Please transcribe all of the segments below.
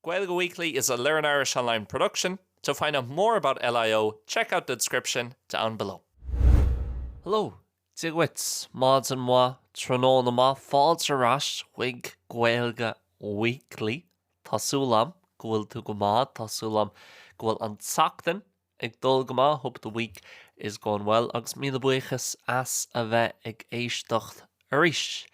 Gaeilge Weekly is a Learn Irish Online production, to find out more about LIO check out the description down below. Hello, Dia dhuit, maidin mhaith, tráthnóna maith, fáilte ar ais chuig Gaeilge Weekly. Tá súil agam go bhfuil tú go maith, tá súil agam go bhfuil an tseachtain Ag dul go maith, hope the week is going well agus míle buíochas as a bheith ag éisteacht arís.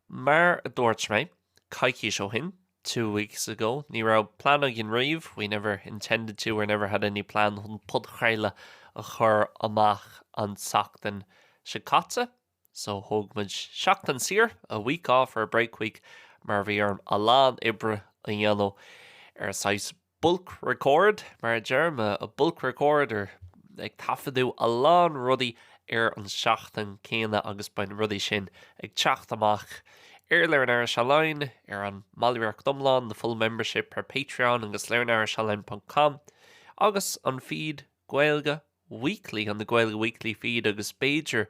Mar a dúirt mé coicís ó shin, two weeks ago, ní raibh plean againn riamh, we never intended to or never had any plan chun podchraoladh a chur amach an tseachtain seo caite. So thóg muid seachtain saor, a week off or a break week, mar bhí orm a lán oibre a dhéanamh ar saghas bulk record mar a deirim, a bulk record or ag taifeadadh a lán rudaí ar an seachtain céanna agus beidh na rudaí sin ag teacht amach ar Learn Irish Online, ar an mBallraíocht Iomlán, the full membership ar Patreon agus learnirishonline ponc com agus an feed Gaeilge Weekly, on the Gaeilge Weekly feed agus b'fhéidir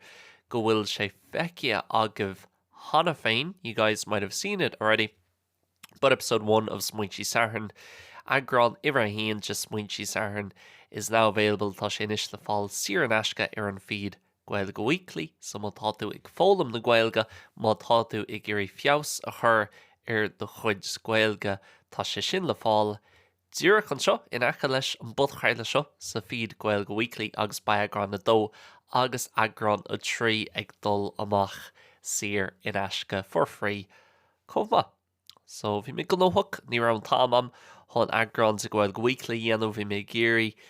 go bhfuil sé feicthe agaibh cheana féin, you guys might have seen it already, but episode one of Smaointe Sathairn, eagrán uimhir a haon de Smaointe Sathairn, is now available, tá sé anois le fáil saor in aisce ar an feed Gaeilge Weekly, so má tá tú ag foghlaim na Gaeilge, má tá tú ag iarraidh feabhas a chur ar do chuid Gaeilge, tá sé sin le fáil Díreach anseo in aice leis an bpodchraoladh seo sa feed Gaeilge Weekly agus beidh eagrán 2 agus eagrán 3 ag dul amach saor in aisce, for free, chomh maith. So, bhí mé gnóthach, ní raibh an t-am a'm chun eagrán de Gaeilge Weekly a dhéanamh, bhí mé ag iarraidh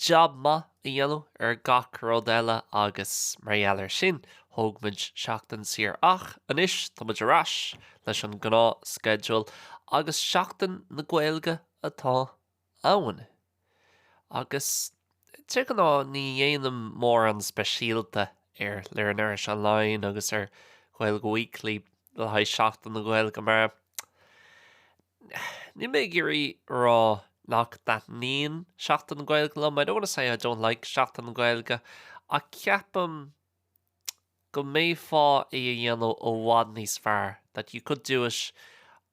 jab maith a dhéanamh ar gach rud eile agus mar gheall ar sin thóg muid seachtain saor ach anois tá muid ar ais leis an gnáth schedule agus seachtain na Gaeilge atá ann agus de ghnáth ní dhéanaim mórán speisialta ar Learn Irish Online agus ar Gaeilge Weekly le haghaidh seachtain na Gaeilge mar Níl mé ag iarraidh a rá nach dtaitníonn Seachtain na Gaeilge liom, I don't want to say I don't like Seachtain na Gaeilge, ach ceapaim go mb'fhéidir é a dhéanamh i bhfad níos fearr, that you could do it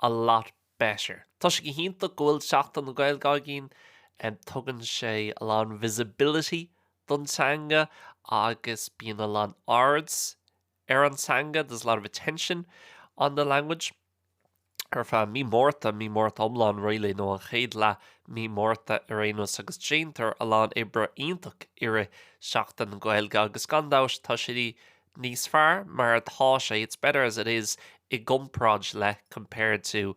a lot better. Tá sé go hiontach go bhfuil Seachtain na Gaeilge againn, tugann sé a lán visibility don teanga agus bíonn a lán airde ar an teanga, there's a lot of attention on the language. Ar feadh mí Márta, mí Márta iomlán really, nó an chéad leath mí Márta ar aon nós agus déantar a lán oibre iontach i rith Seachtain na Gaeilge agus gan dabht tá sé níos fearr mar atá sé, it's better as it is, i gcomparáid le, compared to,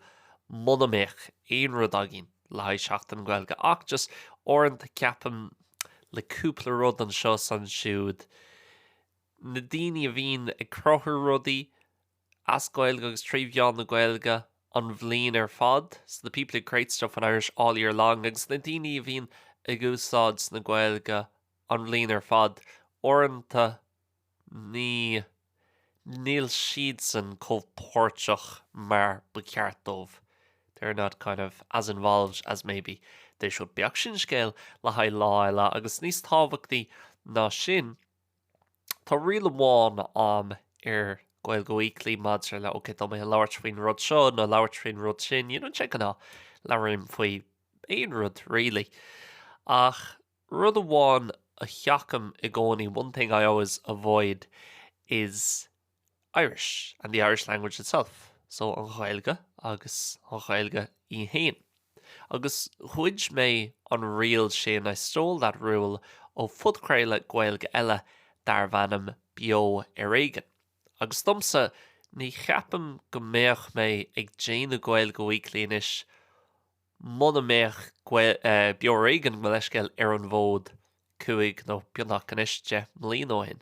muna mbeadh aon rud againn le haghaidh Seachtain na Gaeilge ach just uaireanta ceapaim le cúpla rud anseo is ansiúd, na daoine a bhíonn ag cruthú rudaí as Gaeilge agus trí mheán na Gaeilge an bhliain ar fad, so the people who create stuff in Irish all year long, agus na daoine a bhíonn ag úsáid na Gaeilge an bhliain ar fad, uaireanta níl siadsan chomh páirteach mar ba cheart dóibh, they are not kind of as involved as maybe they should be. Ach sin scéal le haghaidh lá eile, agus níos tábhachtaí ná sin, Tá riail amháin a'm ar Gaeilge Weekly maidir le ok tá mé ag labhairt faoin rud seo nó labhairt faoin rud sin you know, de gnáth labhraím faoi aon rud really ach rud amháin a sheachnaím i gcónaí one thing I always avoid is Irish, and the Irish language itself, so an Ghaeilge agus an Ghaeilge í fhéin. Agus ghoid mé an riail sin, I stole that rule, ó phodchraoladh Gaeilge eile darbh ainm Beo ar Éigean. Agus domsa, ní cheapaim go mbeadh mé ag déanamh Gaeilge Weekly anois Muna mbeadh Beo ar Éigean gabh mo leithscéal ar an bhfód cúig nó beagnach anois deich mbliain ó shin.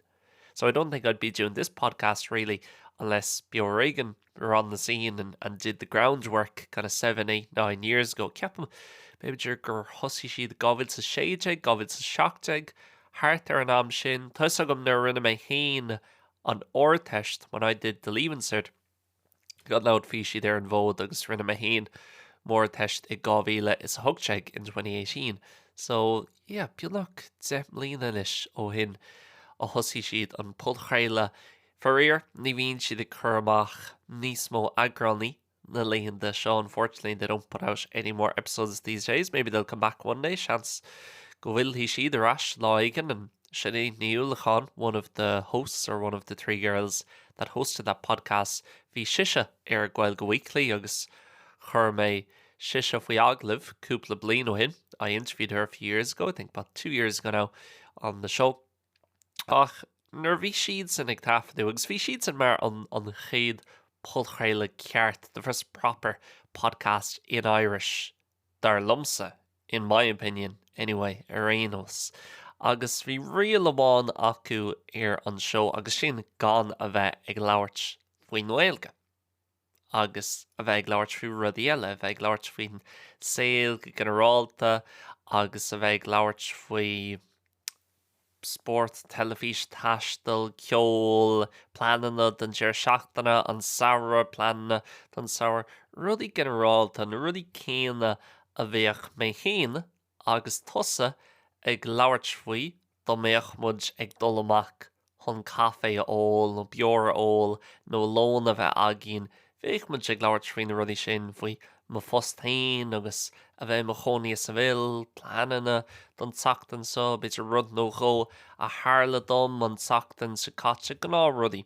So I don't think I'd be doing this podcast really unless Beo ar Éigean were on the scene and and did the groundwork kind of seven, eight, nine years ago. Ceapaim, b'fhéidir gur thosaigh siad 2016, 2017, thart ar an am sin. Tá a fhios agam nuair a rinne mé féin an Ardteist, when I did the Leaving Cert, Go raibh siad ar an bhfód agus rinne mé féin m'Ardteist i 2018 in 2018 so yeah beagnach deich mbliana anois ó shin a thosaigh siad an podchraoladh faraor ní bhíonn siad ag cur amach níos mó eagránaí na laethanta seo, unfortunately they don't put out any more episodes these days maybe they'll come back one day seans go bhfillfidh siad ar ais lá éigin and Sinéad Ní Uallacháin, one of the hosts or one of the three girls that hosted that podcast, bhí sise ar Gaeilge Weekly agus chuir mé sise faoi agallamh cúpla bliain ó shin. I interviewed her a few years ago, I think about two years ago now on the show. Ach nuair a bhí siadsan ag taifeadadh agus bhí siadsan mar an chéad phodchraoladh ceart, the first proper podcast in Irish dar liomsa, in my opinion anyway ar aon nós. Agus bhí riail amháin acu ar an seó agus sin gan a bheith ag labhairt faoin nGaeilge agus a bheith ag labhairt faoi rudaí eile, a bheith ag labhairt faoin saol go ginearálta agus a bheith ag labhairt faoi spórt, teilifís, taisteal, ceol, pleananna don deireadh seachtaine, an samhradh, pleananna don samhradh, rudaí ginearálta, na rudaí céanna a bheadh mé féin agus tusa ag labhairt faoi dá mbeadh muid ag dul amach chun caife a ól nó beoir a ól nó lón a bheith againn Bheadh muid ag labhairt faoi na rudaí sin, faoi mo phost féin agus a bheith i mo chónaí i Seville, pleananna don tseachtain seo, b'fhéidir rud nó dhó a tharla dom an tseachtain seo caite, gnáth rudaí.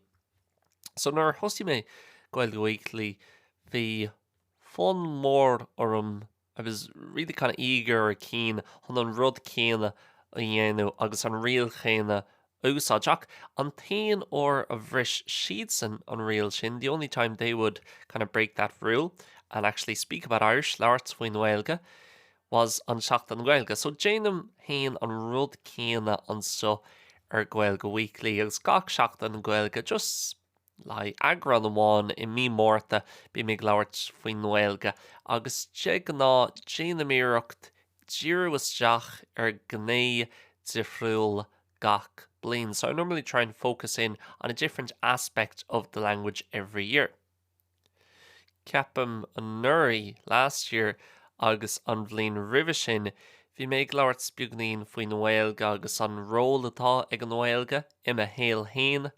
So nuair a thosaigh mé Gaeilge Weekly bhí fonn mór orm I was really kind of eager or keen chun an rud céanna a dhéanamh agus an riail chéanna a úsáid. Ach an t-aon uair a bhris siadsan an riail sin, the only time they would kind of break that rule and actually speak about Irish, labhairt faoin nGaeilge, was ar Seachtain na Gaeilge. So déanaim féin an rud céanna anseo ar Gaeilge Weekly agus gach Seachtain na Gaeilge, just like eagrán amháin i mí Márta bím ag labhairt faoin nGaeilge agus de ghnáth déanaim iarracht díriú isteach ar gné difriúil gach bliain, so I normally try and focus in on a different aspect of the language every year. Ceapaim anuraidh, last year, agus an bhliain roimhe sin, bhí mé ag labhairt beagáinín faoin nGaeilge agus an ról atá ag an nGaeilge i mo shaol fhéin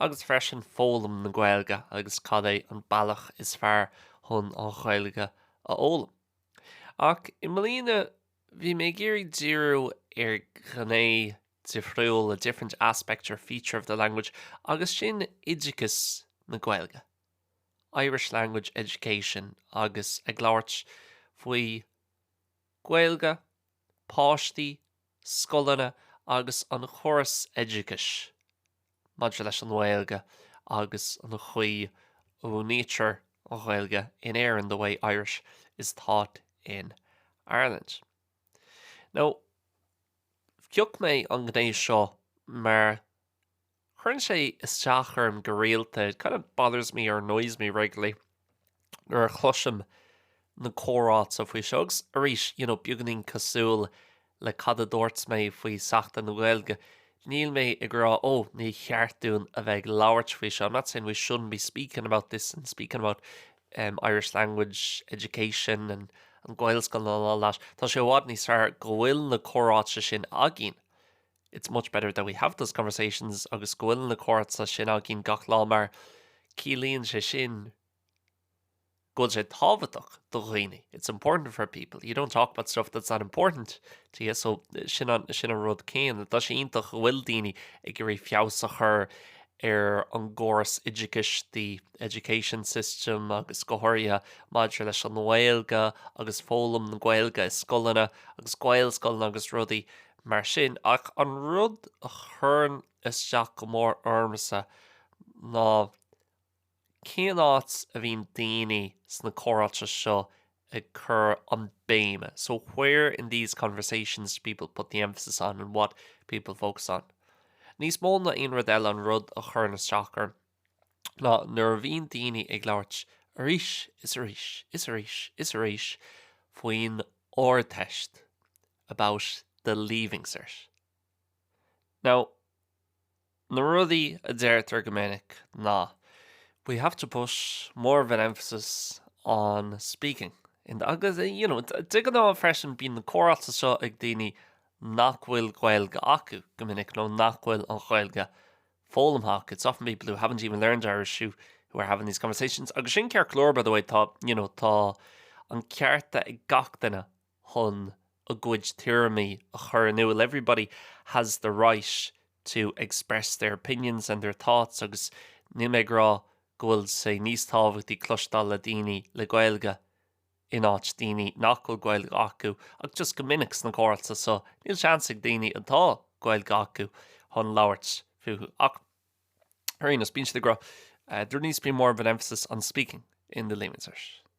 agus freisin foghlaim na Gaeilge agus cad é an bealach is fearr chun an Ghaeilge a fhoghlaim. Ach i mbliana. Bhí mé ag iarraidh díriú ar ghné difriúil, a different aspect or feature of the language, agus sin oideachas na Gaeilge, Irish language education, agus ag labhairt faoi Gaeilge, páistí, scoileanna agus an chóras oideachais maidir leis an nGaeilge agus an chaoi a múintear an Ghaeilge in Éirinn, the way Irish is taught in Ireland. Now, phioc mé an ghné seo mar chuireann sé isteach orm go rialta, it kind of bothers me or annoys me regularly. nuair a chloisim na comhráite faoi seo agus arís you know beagáinín cosúil le cad a dúirt mé faoi Seachtain na Gaeilge, níl mé ag rá ó, ní cheart dúinn a bheith ag labhairt faoi seo, I'm not saying we shouldn't be speaking about this and speaking about em Irish language education and and Gaelscoileanna and all that, tá sé i bhfad níos fearr go bhfuil na comhráite sin againn It's much better that we have those conversations agus go bhfuil na comhráite sin againn gach lá mar ciallaíonn sé sin go bhfuil sé tábhachtach do dhaoine. It's important for people. You don't talk about stuff that's not important to you so sin an, sin an rud céanna. Tá sé iontach go bhfuil daoine ag iarraidh feabhas a chur ar an gcóras oideachais, the education system agus go háirithe maidir leis an nGaeilge agus foghlaim na Gaeilge i scoileanna agus Gaelscoileanna agus rudaí mar sin, ach an rud a chuireann isteach go mór ormsa ná cén áit a bhíonn daoine sna comhráite seo ag cur an béime, so where in these conversations do people put the emphasis on and what people focus on. Níos mó ná aon rud eile an rud a chuireann isteach orm ná nuair a bhíonn daoine ag labhairt arís is arís is arís is arís faoin Ardteist. about the leaving cert. Now, na rudaí a deirtear go minic ná we have to put more of an emphasis on speaking agus you know de ghnáth freisin bíonn na comhráite seo ag daoine nach bhfuil Gaeilge acu go minic nó nach bhfuil an Ghaeilge foghlamtha acu. It's often people who haven't even learned Irish who who are having these conversations agus sin ceart go leor by the way tá you know tá an cearta ag gach duine chun a gcuid tuairimí a chur in iúl everybody has the right to express their opinions and their thoughts agus níl mé ag rá go bhfuil sé níos tábhachtaí cloisteáil ó dhaoine le Gaeilge in áit daoine nach bhfuil Gaeilge acu ach just go minic sna comhráite seo níl seans ag daoine atá Gaeilge acu chun labhairt fúthu ach ar aon nós bíonn siad ag rá there needs to be more of an emphasis on speaking in the Leaving Cert.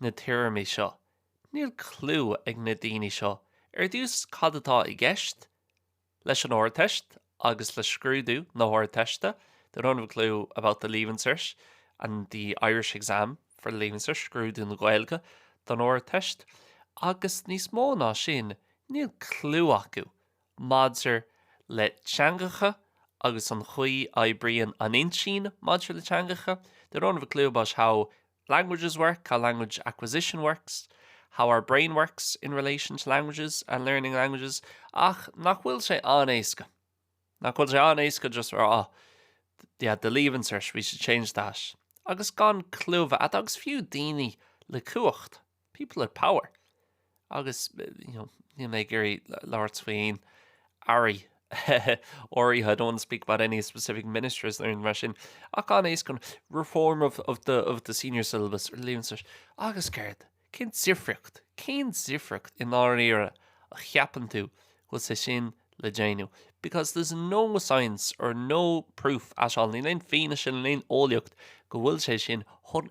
na téarmaí seo. Níl cliú ag na daoine seo ar dtús cad atá i gceist leis an Ardteist agus le scrúdú na hArdteiste, they don't have a clue about the Leaving Cert and the Irish exam for the Leaving Cert, scrúdú na Gaeilge don Ardteist, agus níos mó ná sin, níl cliú acu maidir le teangacha agus an chaoi a oibríonn an intinn maidir le teangacha, they don't have a clue about how languages work, how language acquisition works, how our brain works in relation to languages and learning languages, ach nach bhfuil sé an-éasca, nach bhfuil sé an-éasca just a rá yeah, the leaving cert, we should change that, agus gan clue acu agus fiú daoine le cumhacht. people in power agus you know níl mé ag iarraidh labhairt faoi aon aire áirithe, I don't want to speak about any specific ministers nó mar sin, ach ag an am céanna reform of, of, the, of the senior syllabus or Leaving Cert agus céard? Cén difríocht? Cén difríocht i ndáiríre a cheapann tú go bhfuil sé sin le déanamh? Because there's no science or no proof at all, níl aon fianaise, níl aon eolaíocht go bhfuil sé sin chun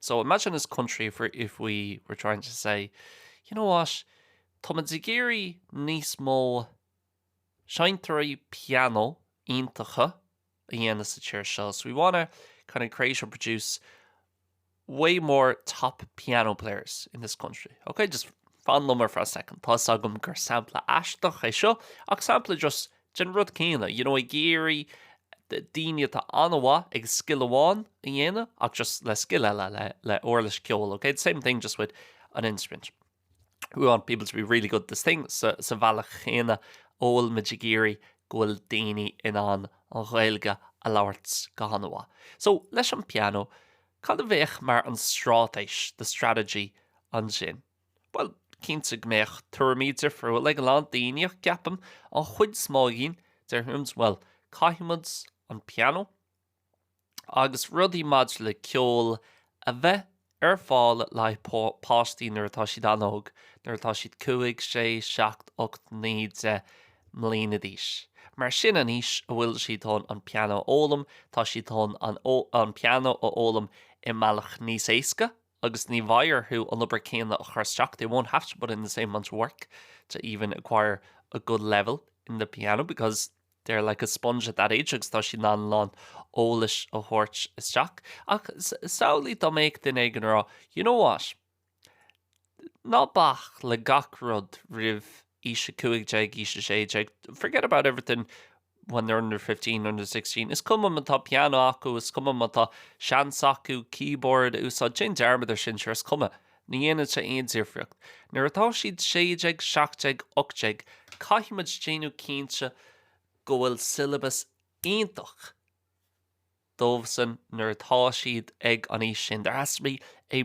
So imagine this country if we if we were trying to say you know what Tá muid ag iarraidh níos mó seinnteoirí piano iontacha a dhéanamh sa tír seo so we wanna kind of create or produce way more top piano players in this country. Okay, just fan liom for a second. Tá a fhios agam gur sampla aisteach é seo ach sampla just den rud céanna, you know, ag iarraidh daoine atá an-mhaith ag scil amháin a dhéanamh ach just le scil eile, le, le uirlis ceoil, ok, the same thing just with an instrument. We want people to be really good at this thing, sa, sa bhealach chéanna a bhfuil muid ag iarraidh go bhfuil daoine in ann an Ghaeilge a labhairt go han-mhaith. So, leis an bpianó, cad a bheadh mar an straitéis, the strategy, ansin? Bhuel, cinnte go mbeadh tuairimí difriúla ag a lán daoine ach ceapaim an chuid is mó againn, déarfaimis, bhuel, caithfidh muid an pianó agus rudaí maidir le ceol a bheith ar fáil le haghaidh páistí nuair atá siad an-óg, nuair atá siad cúig, sé, seacht, ocht, naoi, deich mbliana d'aois. Mar sin an aois a bhfuil siad chun an pianó a fhoghlaim, tá siad chun an pianó a fhoghlaim i mbealach níos éasca agus ní bheidh orthu an obair céanna a chur isteach they won't have to put in the same amount of work to even acquire a good level in the piano because they're like a sponge at that age agus tá siad in ann a lán eolais a thabhairt isteach. Ach samhlaigh dá mbeadh duine éigin ag rá, you know what? Ná bac le gach rud roimh aois 15, aois 16, forget about everything when they're under fifteen, under sixteen. Is cuma ma tá piano acu, is cuma má tá seans acu keyboard a úsáid, déan dearmad ar sin, sure, is cuma. Ní dhéanann sé aon difríocht. Nuair atá siad sé déag, seacht déag, ocht déag, caithfidh muid déanamh cinnte go bhfuil syllabus iontach dóibhsan nuair atá siad ag an aois sin. There has to be a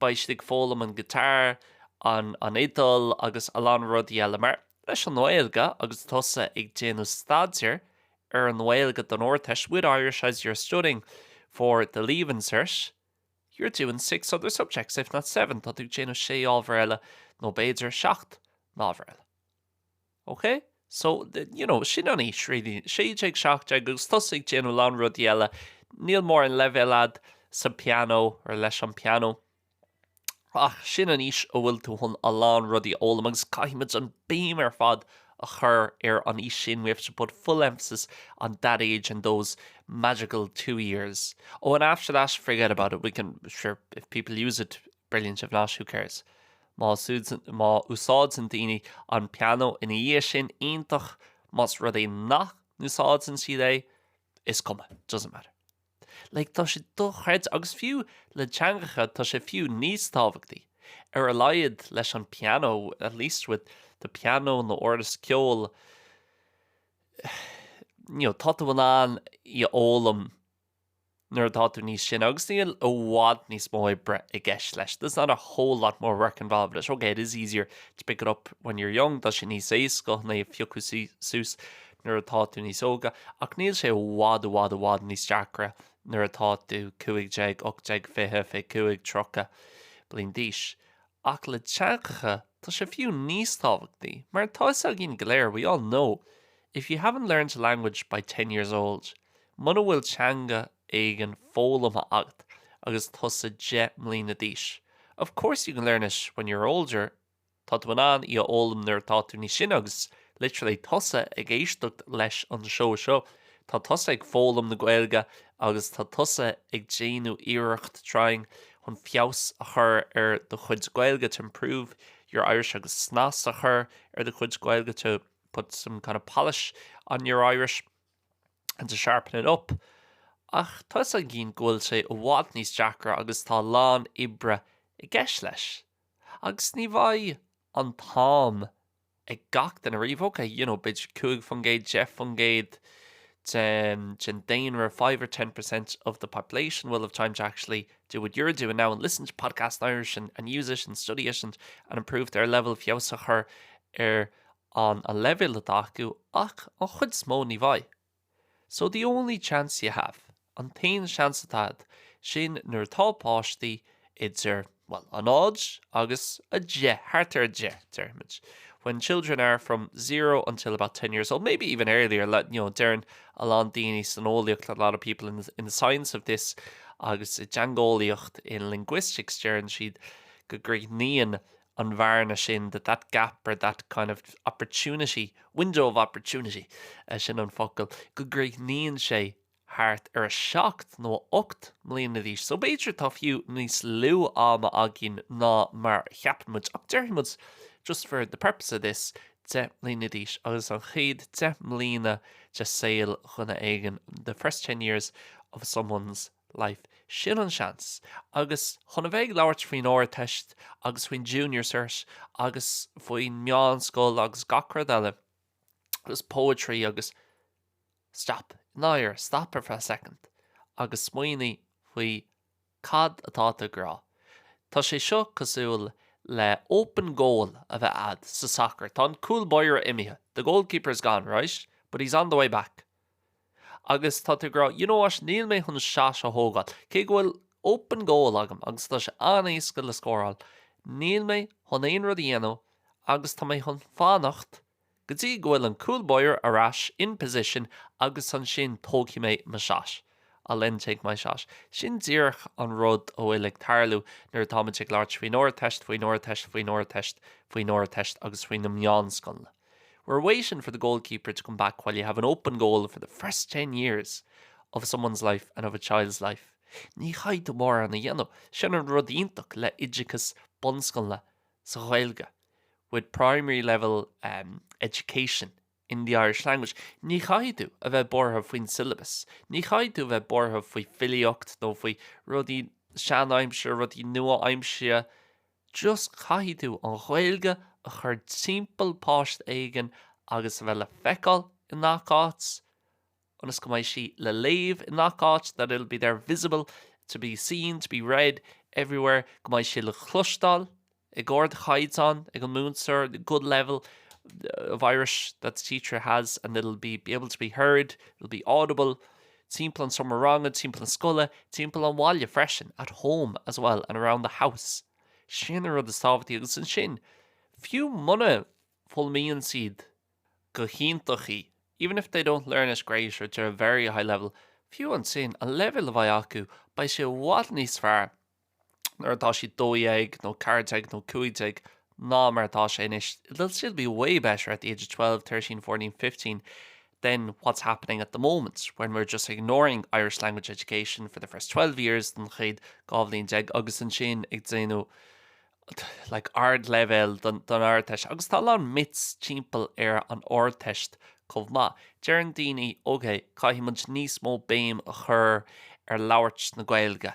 Beidh siad ag foghlaim an guitar, an fhidil agus a lán rudaí eile mar leis an nGaeilge agus tusa ag déanamh staidear ar an nGaeilge don Ardteist with Irish as you're studying for the Leaving Cert you're doing six other subjects if not seven tá tú ag déanamh sé ábhar eile nó b'fhéidir seacht n-ábhar eile. Ok so you know sin an aois really 16 17 agus tusa ag déanamh a lán rudaí eile níl mórán leibhéil a'd sa pianó or leis an pianó ach sin an aois a bhfuil tú chun a lán rudaí a fhoghlaim agus caithfimid an béim ar fad a chur ar an aois sin we have to put full emphasis on that age and those magical two years oh and after that forget about it we can sure if people use it Brilliant, if not, who cares? Má, má úsáideann daoine an pianó ina dhiaidh sin, iontach, más rud é nach n-úsáideann siad é, is cuma, doesn't matter. Like, tá sé dochreidte, agus fiú le teangacha, tá sé fiú níos tábhachtaí, ar a laghad leis an pianó, at least with the piano nó uirlis ceoil, you know, tá tú in ann í a fhoghlaim nuair atá tú níos sine agus níl i bhfad níos mó oibre i gceist leis, there's not a whole lot more work involved, ok, it is easier to pick it up when you're young, tá sé níos éasca é a phiocadh suas nuair atá tú níos óige, ach níl sé i bhfad i bhfad i bhfad níos deacra nuair atá tú 15, 18, 20, 25, 30 bliain d'aois. Ach le teangacha, tá sé fiú níos tábhachtaí, mar tá 'fhios againn go léir, we all know, if you haven't learned a language by ten years old, Muna bhfuil teanga éigin foghlamtha agat agus tusa deich mbliana d'aois, of course you can learn it when you're older, tá tú in ann í a fhoghlaim nuair atá tú níos sine agus literally tusa ag éisteacht leis an seó seo, tá tusa ag foghlaim na Gaeilge agus tá tusa ag déanamh iarracht, trying, chun feabhas a chur ar do chuid Gaeilge, to improve your Irish, agus snas a chur ar do chuid Gaeilge, to put some kind of polish on your Irish. and to sharpen it up, ach tá's againn go bhfuil sé i bhfad níos deacra agus tá a lán oibre i gceist leis. Agus ní bheidh an t-am ag gach duine riamh, ok, you know, b'fhéidir cúig faoin gcéad, deich faoin gcéad den, den daonra, five or ten percent of the population will have time to actually do what you're doing now and listen to podcasts in Irish and, and use it and study it and, and improve their leibhéal, feabhas a chur ar ón leibhéal atá acu ach an chuid is mó ní bheidh so the only chance you have an t-aon seans atá agat sin nuair atá páistí idir, bhuel, a náid agus a deich, thart ar a deich, déarfaimid when children are from zero until about ten years old, maybe even earlier le, you know, deireann a lán daoine san eolaíocht a lot of people in the, in the science of this agus i dteangeolaíocht in linguistics deireann siad go gcríochnaíonn an bhearna sin, that that gap or that kind of opportunity, window of opportunity, sin an focal, go gcríochnaíonn sé thart ar a seacht nó ocht mbliana d'aois. So b'fhéidir tá fiú níos lú ama againn ná mar a cheapann muid ach déarfaidh muid, just for the purpose of this, deich mbliana d'aois agus an chéad deich mbliana de saol dhuine éigin, the first ten years of someone's. life. Sin an seans. Agus chun a bheith ag labhairt faoin Ardteist agus faoin Junior Cert agus faoin meánscoil agus gach rud eile agus poetry agus. stop, i ndáirire, stop for a second agus smaoinigh faoi cad atá tú ag rá. Tá sé seo cosúil le open goal a bheith a'd sa sacar. Tá an cúl báire imithe, the goalkeeper is gone, right? But he's on the way back. Agus tá tú ag rá, you know what, níl mé chun shot a thógáil, cé go bhfuil open goal agam agus tá sé an-éasca le scóráil, níl mé chun aon rud a dhéanamh agus tá mé chun fanacht go dtí go bhfuil an cúl báire ar ais in position agus ansin tógfaidh mé mo shot, I'll then take my shot. Sin díreach an rud a bhfuil ag tarlú nuair atáimid ag labhairt faoin Ardteist, faoin Ardteist, faoin Ardteist, faoin Ardteist agus faoi na meánscoileanna. We're waiting for the goalkeeper to come back while you have an open goal for the first ten years of someone's life and of a child's life. Ní chaithfidh tú mórán a dhéanamh, sin an rud iontach le oideachas bunscoile sa Ghaeilge, with primary level ehm education in the Irish language. Ní chaithfidh tú a bheith buartha faoin syllabus, ní chaithfidh tú a bheith buartha faoi filíocht nó faoi rudaí seanaimsire, rudaí nua-aimsire. Just caithfidh tú an Ghaeilge a chur timpeall páiste éigin agus a bheith le feiceáil i ngach áit, ionas go mbeidh sí le léamh i ngach áit, that it'll be there visible, to be seen, to be read everywhere, go mbeidh sí le cloisteáil ag ardchaighdeán ag an múinteoir, the good level of Irish that the teacher has and it'll be able to be heard, it'll be audible. Timpeall an seomra ranga, timpeall na scoile, timpeall an bhaile freisin, at home as well and around the house. Sin an rud is tábhachtaí agus ansin, fiú muna bhfoghlaimíonn siad go hiontach í, even if they don't learn it great or to a very high level, fiú ansin, an leibhéal a bheidh acu, beidh sé i bhfad níos fearr nuair atá siad 12 nó 14 nó 15 ná mar atá sé anois, they'll still be way better at the age of 12, 13, 14, 15 than what's happening at the moment when we're just ignoring Irish language education for the first 12 years don chéad 12 bhliain agus ansin ag déanamh like ardleibhéal don Ardteist agus tá a lán myths timpeall ar an Ardteist chomh maith. Deireann daoine ok caithfidh muid níos mó béim a chur ar labhairt na Gaeilge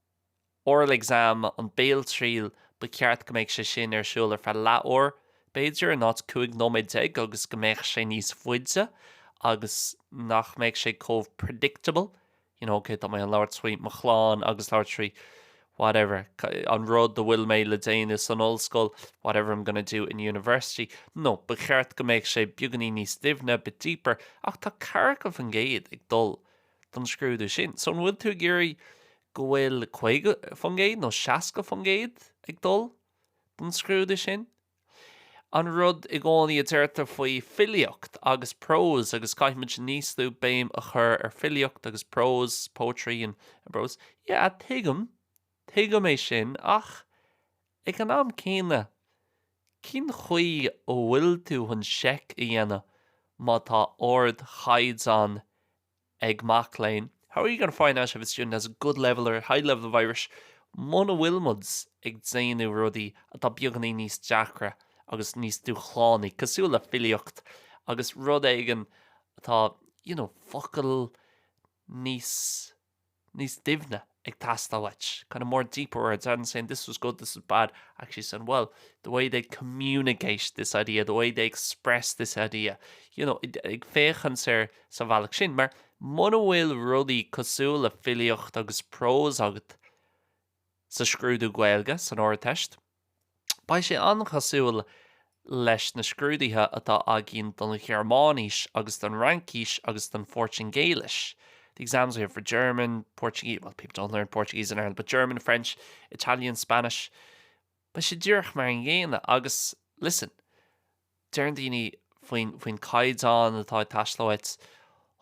Oral exam, an béaltriail, ba cheart go mbeadh sé sin ar siúl ar feadh leath uair, b'fhéidir, in áit cúig nóiméad déag agus go mbeadh sé níos faide agus nach mbeadh sé chomh predictable, you know, ok, tá mé in ann labhairt faoi mo chlann agus labhairt faoi whatever, an rud a bhfuil mé le déanamh san ollscoil, whatever I'm gonna do in university. No, ba cheart go mbeadh sé beagainín níos doimhne, bit deeper, ach tá daichead faoin gcéad ag dul don scrúdú sin. So an bhfuil tú ag iarraidh go bhfuil 50% nó 60% ag dul don scrúdú sin? An rud i gcónaí a deirtear faoi filíocht agus prose agus caithfidh muid níos lú béim a chur ar filíocht agus prose, poetry and prose. Yeah, tuigim. Tuigim é sin ach Ag an am céanna, cén chaoi a bhfuil tú chun seic a dhéanamh má tá ardchaighdeán ag mac léinn? How are you going to find out if a student has a good level or high level of Irish muna bhfuil muid ag déanamh rudaí atá beagainín níos deacra agus níos dúshlánaí, cosúil le filíocht agus rud éigin atá, you know, focail níos. níos doimhne ag teastáil uait, kind of more deeper words rather than saying this was good, this was bad, actually saying well, the way they communicate this idea, the way they express this idea, you know, ag féachaint air sa bhealach sin, mar muna bhfuil rudaí cosúil le filíocht agus prós agat sa scrúdú Gaeilge san Ardteist, Beidh sé an-chosúil leis na scrúduithe atá againn don Ghearmáinis agus don Fhraincis agus don Phortaingéilis, the exams we have for German, Portuguese, well people don't learn Portuguese in Ireland, but German, French, Italian, Spanish, beidh sé díreach mar an gcéanna agus, listen, deireann daoine faoin, faoin caighdeán atá ag teastáil uait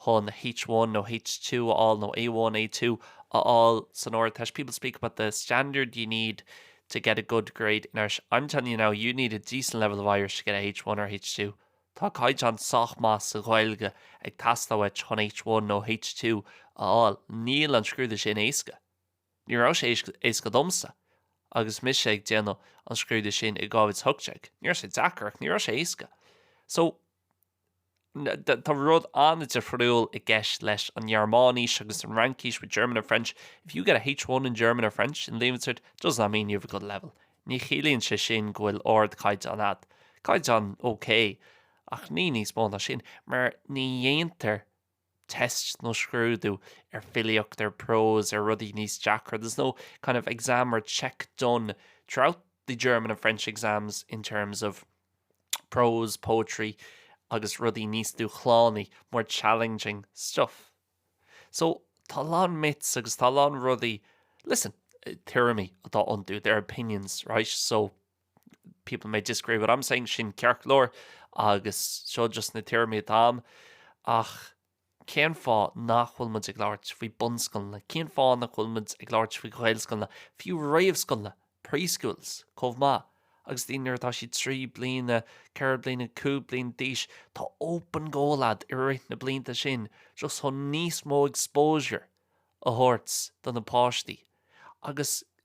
chun H-one nó H-two a fháil nó A-one, A-two a fháil san Ardteist, people speak about the standard you need to get a good grade in Irish, I'm telling you now you need a decent level of Irish to get a H-one or H-two. Tá caighdeán sách maith sa Ghaeilge ag teastáil uait chun H-one nó H-two a fháil. Níl an scrúdú sin éasca. Ní raibh sé éasca domsa agus mise ag déanamh an scrúdú sin i 2018. Ní raibh sé deacair ach ní raibh sé éasca. So, tá rud ana-difriúil i gceist leis an nGearmáinis agus an Fhraincis with German or French. If you get a H1 in German or French in Leaving Cert does not mean you have a good level. Ní chiallaíonn sé sin go bhfuil ardchaighdeán a'd. Caighdeán ok ach ní níos mó ná sin mar ní dhéantar test nó scrúdú ar filíocht, ar prose, ar rudaí níos deacra, there's no kind of exam or check done throughout the German and French exams in terms of prose, poetry agus rudaí níos dúshlánaí, more challenging stuff. So tá a lán myths agus tá a lán rudaí, listen, tuairimí atá iontu, they're opinions, right? So people may disagree with what I'm saying, sin ceart go leor agus seo just na tuairimí atá a'm, ach cén fáth nach bhfuil muid ag labhairt faoi bunscoileanna? Cén fáth nach bhfuil muid ag labhairt faoi ghaelscoileanna, fiú réamhscoileanna, preschools, chomh maith? Agus daoine nuair atá siad trí bliana, ceithre bliana, cúig bliana d'aois, tá open goal a'd i rith na blianta sin just chun níos mó exposure a thabhairt do na páistí agus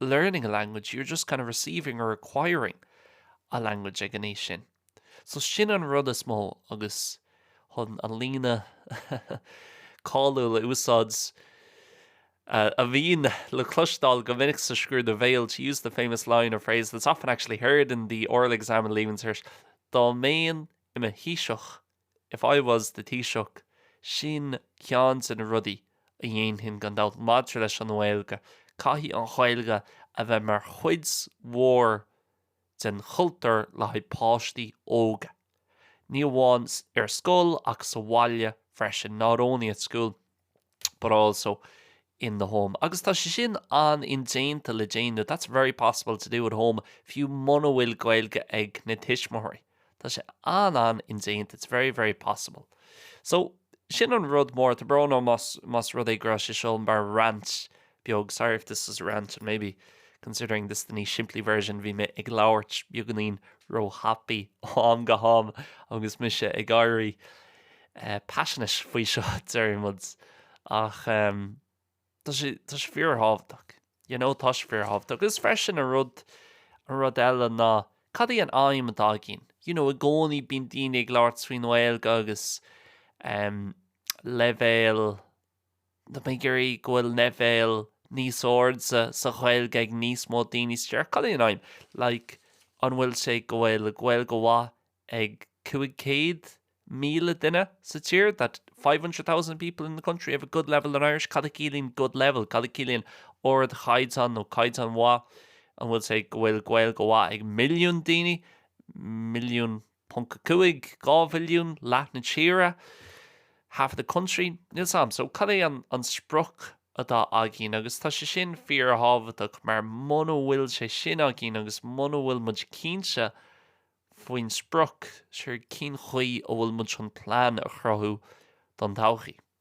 learning a language, you're just kind of receiving or acquiring a language ag an aois sin. So sin an rud is mó agus chun an líne cáiliúil a úsáid a bhíonn le cloisteáil go minic sa scrúdú béil, to use the famous line or phrase that's often actually heard in the oral exam in Leaving Cert, dá mbeinn i mo thaoiseach If I was the Taoiseach, sin ceann de na rudaí a dhéanfainn gan dabht. Maidir leis an nGaeilge, caithfidh an Ghaeilge a bheith mar chuid mhór den chultúr le haghaidh páistí óga. Ní amháin ar scoil ach sa bhaile freisin, not only at school. but also in the home. Agus tá sé sin an-indéanta le déanamh. That's very possible to do at home fiú muna bhfuil Gaeilge ag na tuismitheoirí. Tá sé an-an-indéanta. It's very, very possible. So sin an rud mór, tá brón orm más rud é go raibh sé seo mar rant beag sorry if this is a rant and maybe considering this the níos simplí version bhí mé ag labhairt beagáinín róthapaidh am go ham agus mise ag éirí eh, passionate faoi seo deirimid ach em, tá sé tá sé fíor thábhachtach you know tá sé fíor thábhachtach agus freisin an rud an rud eile ná cad í an aidhm atá a'inn you know i gcónaí bíonn daoine ag labhairt faoin nGaeilge agus em, leibhéal Tá mé ag iarraidh go bhfuil leibhéal níos airde sa Ghaeilge ag níos mó daoine sa tír Cad é an aim like an bhfuil sé go bhfuil Gaeilge mhaith ag 500,000 duine sa tír that 500,000 people in the country have a good level in Irish cad a chiallaíonn good level cad a chiallaíonn ardchaighdeán nó caighdeán maith an bhfuil sé go bhfuil Gaeilge mhaith ag milliún daoine milliún 1.5, dhá mhilliún, leath na tíre, half the country, níl 's a'm so cad é an sprioc atá againn agus tá sé sin fíorthábhachtach mar muna bhfuil sé sin againn agus muna bhfuil muid cinnte faoin sprioc, siúr cén chaoi a bhfuil muid chun plean a chruthú don todhchaí.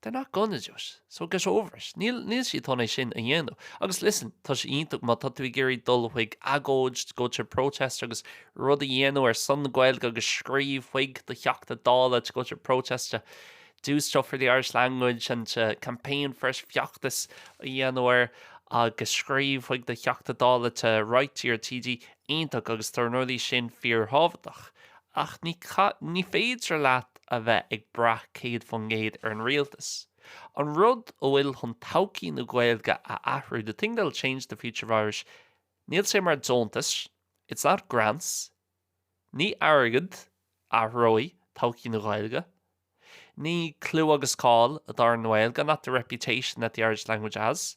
They're not gonna do it, so get over it. Níl siad chun é sin a dhéanamh. Agus listen, tá sé iontach má tá tú ag iarraidh dul chuig agóid, to go to a protest agus rud a dhéanamh ar son na Gaeilge agus scríobh chuig do Theachta Dála, to go to a protest to do stuff for the Irish language and to campaign for it, feachtas a dhéanamh air agus scríobh chuig do Theachta Dála, to write to your TD, iontach agus tá na rudaí sin fíorthábhachtach. Ach ní ní féidir leat a bheith ag brath 100% ar an rialtas. An rud a bhfuil chun todhchaí na Gaeilge a athrú, the thing that'll change the future of Irish, níl sé mar deontais, it's not grants. Ní airgead a athróidh todhchaí na Gaeilge. Ní clú agus cáil atá ar an nGaeilge, not the reputation that the Irish language has.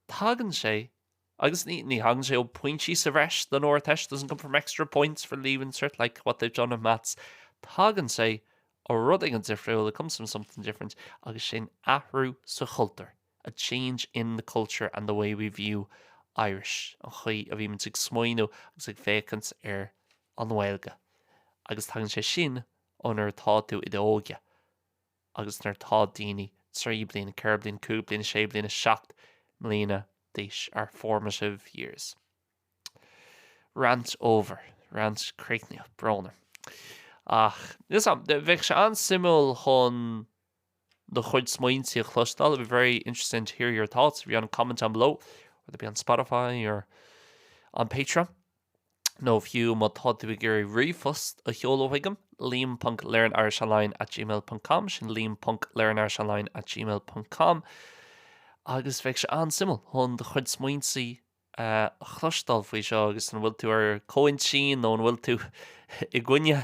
Tagann sé Agus ní thagann sé ó pointí sa bhreis don Ardteist, doesn't come from extra points for leaving cert like what they've done in maths. Tagann sé ó rud éigin difriúil, it comes from something different, agus sin athrú sa chultúr, a change in the culture and the way we view Irish, an chaoi a bhímid ag smaoiniú agus ag féachaint ar an nGaeilge. Agus tagann sé sin ó nuair atá tú i d'óige. agus nuair atá daoine trí bliana, ceithre bliana, cúig bliana, sé bliana, seacht mbliana d'aois, our formative years. Rant over. Rant críochnaithe. Brón orm. Ach, níl 's a'm, bheadh sé an-suimiúil chun do chuid smaointe a chloisteáil, it'd be very interesting to hear your thoughts, if you want to comment down below, whether it be on Spotify or on Patreon. nó fiú má tá tú ag iarraidh ríomhphost a sheoladh chuigam, liam.learnirishonline at gmail ponc com, sin liam.learnirishonline at gmail ponc com, agus bheadh sé an-suimiúil chun do chuid smaointe a chloisteáil faoi seo agus an bhfuil tú ar comhintinn nó an bhfuil tú i gcoinne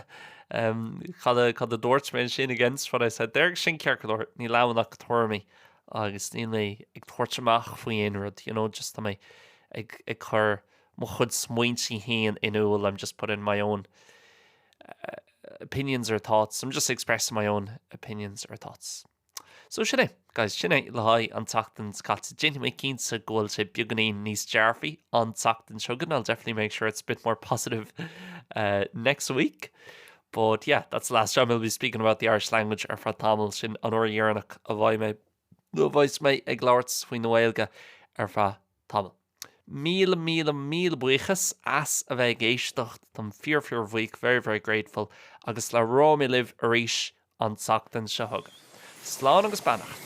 cad a dúirt mé ansin, against what I said there, agus sin ceart go leor, níl ann ach tuairimí agus níl mé ag tabhairt amach faoi aon rud, you know, just tá mé ag cur mo chuid smaointe féin in iúl, I'm just putting my own opinions or thoughts, I'm just expressing my own opinions or thoughts. So sin é, guys, sin é le haghaidh an tseachtain is caite. Déanfaidh mé cinnte go bhfuil sé beagáinín níos dearfaí an tseachtain seo chugainn, I'll definitely make sure it's a bit more positive uh, next week. But yeah, that's the last time I'll be speaking about the Irish language ar feadh tamall sin an uair dheireanach a bhfaighidh mé nó a bheidh mé ag labhairt faoin nGaeilge ar feadh Tamall. Míle, míle, míle buíochas as a bheith ag éisteacht. Táim fíor, fíor bhuíoch, very, very grateful, agus labhróidh mé libh arís an tseachtain seo chugainn. Slán agus beannacht.